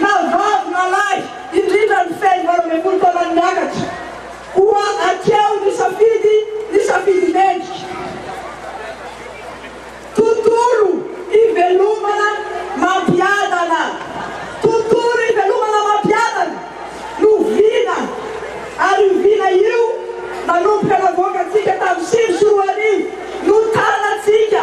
na vavy na lahy, indrindra ny feno valo ambin'ny folo taona miakatra, koa hatreo ny safidy ny safidy mendrika. Tontolo ivelomana mampiadana, tontolo ivelomana mampiadana no vina ary io vina io nanomboka navoakantsika tamin'ny sivy sy roa arivo no tarantsika,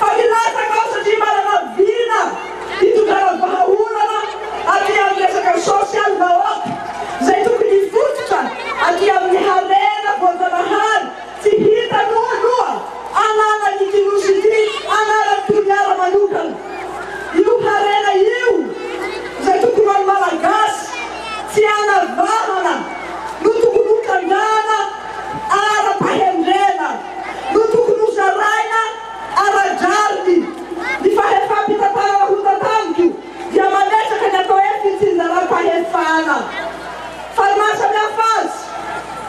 fa hilatsaka ao satria manana vina hitondrana vahaolana aty amin'ny resaka social maop izay tokony hifototra aty amin'ny harena voajanahary tsy hitanao aloha anaran'ity nosy ity anaran'i Toliara manokana io harena io izay tokony ho an'ny malagasy tsy anavahana no tokony hotrandrahana ara-pahendrena no tokony ho zaraina ara-drariny. Ny fahefam-pitantarana ho tantaniko dia mametraka ny atao hoe fitsinjaram-pahefana. Fa ny mahasamihafa azy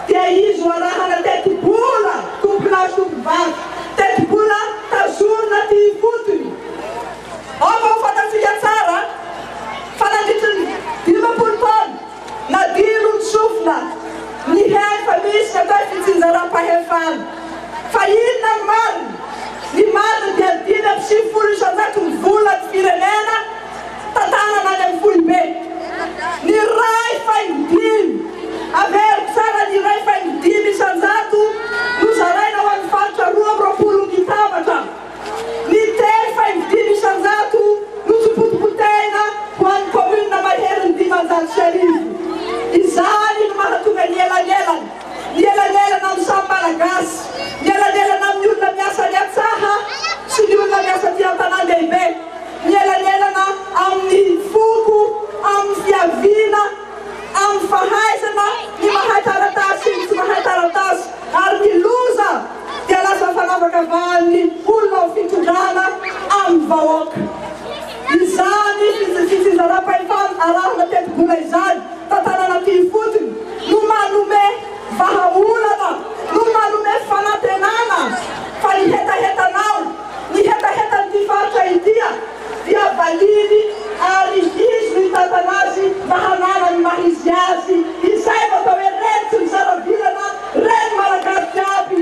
dia izy ho arahana tetibola tompo-lahy sy tompo-vavy, tetibola tazonina aty ifotony. Aoka ho fantatsika tsara fa nandritry ny dimampolo taona, Nadino ny sofina, nihaino fa misy natao fitsinjaram-pahefana. Fa inona ny marina? Ny marina dia dimy amby sivifolo isanjato ny vola ny firenena tantanana any amin'ny foibe. Ny iray faingo dimy, averiko tsara, ny iray faingo dimy isanjato no zaraina ho an'ny faritra roa amby roapolo mitabatra. Liter faha enimby dimy isan-jato no tompontopon-tena ho an'ny kaominina maherin'ny dimanjato sy arivo. Izany no mahatonga ny elanelana, ny elanelana amin'ny samy Malagasy, ny elanelana amin'ny olona miasa any an-tsaha sy ny olona miasa aty an-tanàn-dehibe, ny elanelana amin'ny foko, amin'ny fiaviana, amin'ny fahaizana ny mahay taratasy sy ny tsy mahay taratasy ary ny loza dia lasa fanavakavahan'ny olona ao fitondrana amin'ny vahoaka. Izany fizarampahefana arahana tetibola izany tantanan'aty ifotony no manome vahaolana, no manome fanantenana fa ny hetahetanao, ny hetahetan'ity faritra ity, dia valiany ary izy no hitantana azy mba hanana ny maha izy azy izay no atao hoe reny tsy mizara vilana reny malagasy jiaby.